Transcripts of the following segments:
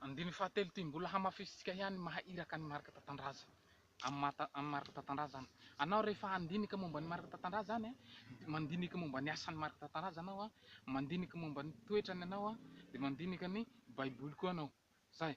Andininy fahatelo ity mbola hamafisintsika ihany ny maha iraka an'i Marc Tatandraza amin'i Marc Tatandraza anao rehefa handinika momba an'i Marc Tatandraza any dia mandinika momba ny asan'i Marc Tatandraza anao mandinika momba ny toetrany anao dia mandinika ny baiboly koa anao zay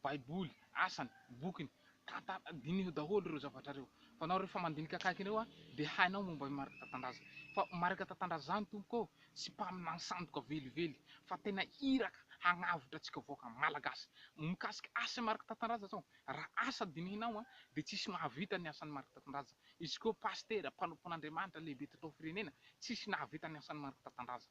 baiboly asany bokiny tantara diniho daholo ireo zavatra ireo fa anao rehefa mandinika akaiky ireo dia hainao momba an'i Marc Tatandraza fa Marc Tatandraza zany tompoko sy mpaminany sandoka velively fa tena iraka hagnavotra antsika vahoaka malagasy mikasika asan'i Marc Tatandraza zao ra asa dinihinao a de tsisy mahavita ny asan'i Marc Tatandraza izy ko pasitera mpanompon'Andriamanitra lehibe teto firenena tsisy nahavita ny asan'i Marc Tatandraza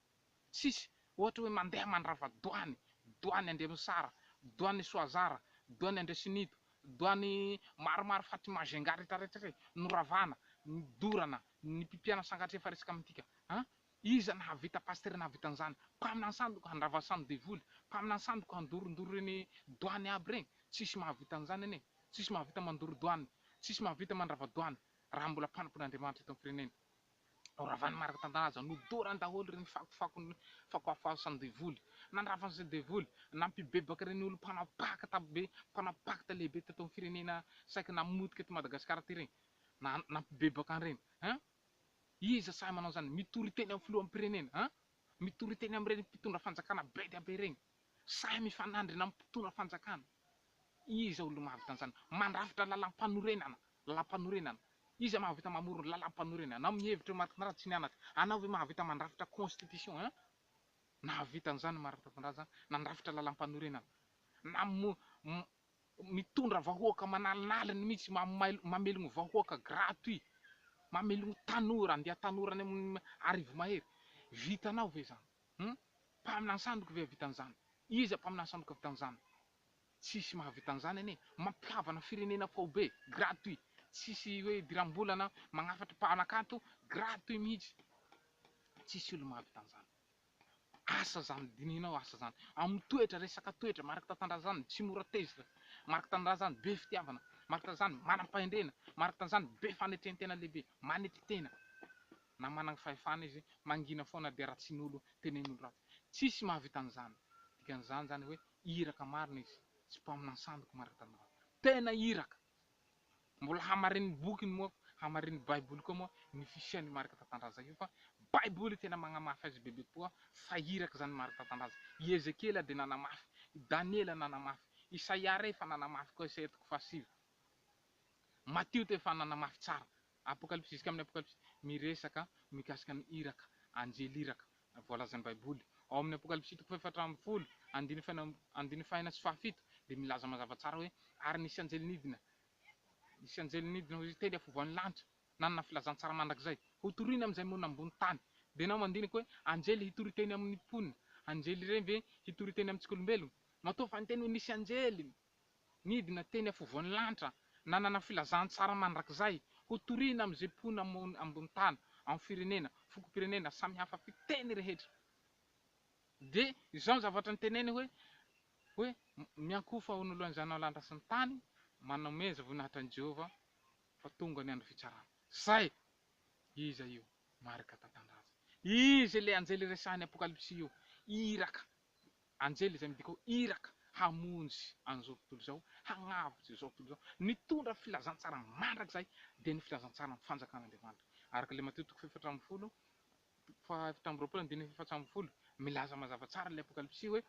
tsisy ohatra hoe mandeha mandrava doany doany Andriamisara doany Soazara doany Andriasinito doany maromaro faty Majunga retraretra re noravana ny dorana ny pipiana sangatr'efa resaka amintika an. Iza nahavita pasitera nahavita an'izany? Mpaminany sandoka handrava samy devoly, mpaminany sandoka handorondoro ireny doany aby ireny, tsisy mahavita an'izany anie, tsisy mahavita mandoro doany, tsisy mahavita mandrava doany raha mbola mpanompon'Andriamanitra eto amin'ny firenena. Noravany marina tantanan-ja, nodorany daholo ireny fakofakony, fako hafahasan'ny devoly, nandrava an'izay devoly, nampibebaka ireny olona mpanao pakta be, mpanao pakta lehibe teto amin'ny firenena saiky namotika eto Madagasikara ity ireny, na nampibebaka an'ireny, hein! Iza sahy manao izany? Mitory teny amin'ny filoham-pirenena an! Mitory teny amin'ireny mpitondra fanjakana be dia be ireny! Sahy mifanandrina amin'ny mpitondra fanjakana! Iza olona mahavita an'izany? Mandrafitra lalam-panorenana! Lalam-panorenana! Iza mahavita mamory ny lalam-panorenana? Anao mihevitra eo Marc Tandraza tsy nianatra? Anao ve mahavita mandrafitra constitution an? Nahavita an'izany Marc Tandraza an! Nandrafitra lalam-panorenana! Namory Mitondra vahoaka manalinaliny mihitsy mamelogno vahoaka gratuit mamelogno tanora andeha tanora any amin arivo mahery vitanao ve zany hum mpaminany sandoka ve ahavita anzany iza mpaminany sandoka ahavita anzany tsisy mahavita anzany anie mampihavana firenena faobe gratuit tsisy hoe idirambolana magnafatra mpanakanto gratuit mihitsy tsisy olo mahavita anzany. Asa zany dininao asa zany amin'ny toetra resaka toetra mariky tatandrazany tsy mora tezitra mariky tanindrazany be fitiavana mariky tanizany manam-pahendrena mariky tanizany be fanetrentena lehibe manetry tena na managny fahefana izy mangina foana dia ratsin'olo tenen'olo ratsy tsisy mahavita an'izany dikan'izany zany hoe iraka marina izy tsy mpaminany sandoka mariky tanindrazany tena iraka Mbola hamarinin'ny bokiny moa, hamarinin'ny baiboly koa moa ny fisian'io Marc Tatandraza io fa baiboly tena magnamafy azy bebe kokoa fa iraka izany Marc Tatandraza. I Ezekiela dia nanamafy, i Daniela nanamafy, Isaia re efa nanamafy koa, Isaia toko fahasivy, Matio teo efa nanamafy tsara Apokalypsy jusqu'à amin'ny Apokalypsy miresaka mikasika ny iraka, anjely iraka, voalazan'ny Baiboly. Ao amin'ny Apokalypsy toko fahefatra ambin'ny folo, andininy faha-enina, andininy faha-enina sy faha-fito, dia milaza mazava tsara hoe, Ary nisy anjely nidina, nisy anjely nidina hoy izy, teny afovoan'ny lanitra, nanana filazantsara mandrakizay, hotorina amin'izay monina ambony tany. Dia na mandinika hoe, anjely hitory teny amin'ny mponina, anjely ireny ve hitory teny amintsika olombelona? Matoa fa ny teny hoe nisy anjely, Nidina teny afovoan'ny lanitra, nanana filazantsara mandrakizay hotorina amin'izay mpoina ambony tany, amin'ny firenena, fokom-pirenena samihafa fiteny rehetra. Dia izao ny zavatra niteneniny hoe, hoe, Miankohofa ho noloan'i Zanao lanitra sy ny tany, manomeja voninahitra an'i Jehovah, fa tonga ny andro fitsarana. Izay! Iza io? Marika Tantandraza. Izy ilay anjely resahin'ny Apokalypsy io, iraka. Anjely izay midika ho iraka hamonjy an'izao tontolo izao, hagnavotra izao tontolo izao. Nitondra filazantsara mandrakizay, dia ny filazantsaran'ny fanjakan'Andriamanitra. Araka ilay Matio toko fahefatra ambin'ny folo, fahaefatra amby roapolo andininy efatsy ambin'ny folo, milaza mazava tsara ilay Apokalypsy hoe,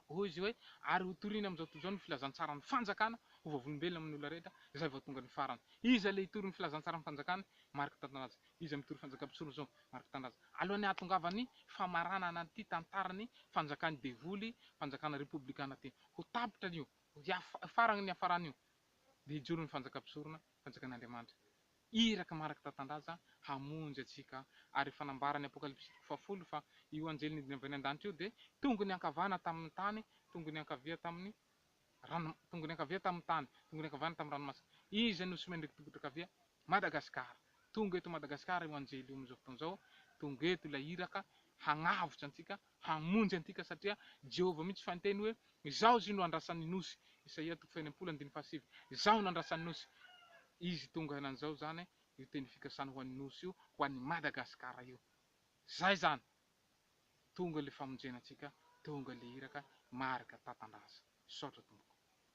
Hoy izy hoe, Ary hotorina amin'izao tontolo izao ny filazantsaran'ny fanjakana ho vavolombelona amin'ny olona rehetra, izay vao tonga ny farany. Iza ilay hitory ny filazantsaran'ny fanjakany? Marc Tatanadze. Izy mitory fanjakam-pisorona izao ary mpitanindrazana. Alohan'ny hahatongavan'ny famaranana an'ity tantaran'ny fanjakan'ny devoly, fanjakana repoblikana ity, ho tapitra io, ho farany ny hafarana io, dia hijoro ny fanjakam-pisorona, fanjakan'Andriamanitra, iraka mandraka tantandraza, hamonjy antsika. Ary efa nambaran'ny Apokalypsy toko fahafolo fa io anjely nidina avy any an-danitra io dia tongony ankavana tamin'ny tany, tongony ankavia tamin'ny rano tongony ankavia tamin'ny tany tongony ankavanana tamin'ny ranomasina iza no somen'ireo mpitokotra ankavia Madagascar tonga eto Madagascar io anjely io amin'izao fotoana izao tonga eto ilay iraka hagnavotra antsika hamonjy antika satria Jehovah mihitsy fa niteny hoe izaho izy io no andrasan'ny nosy Isaia toko fahenina amby folo andininy fahasivy izaho no andrasan'ny nosy izy tonga henan'izao izany io teny fikasana ho an'ny nosy io ho an'i Madagascar io zay izany Tonga le famonjena antsika Tonga le iraka Marika tatandraza Misaotra tompoko.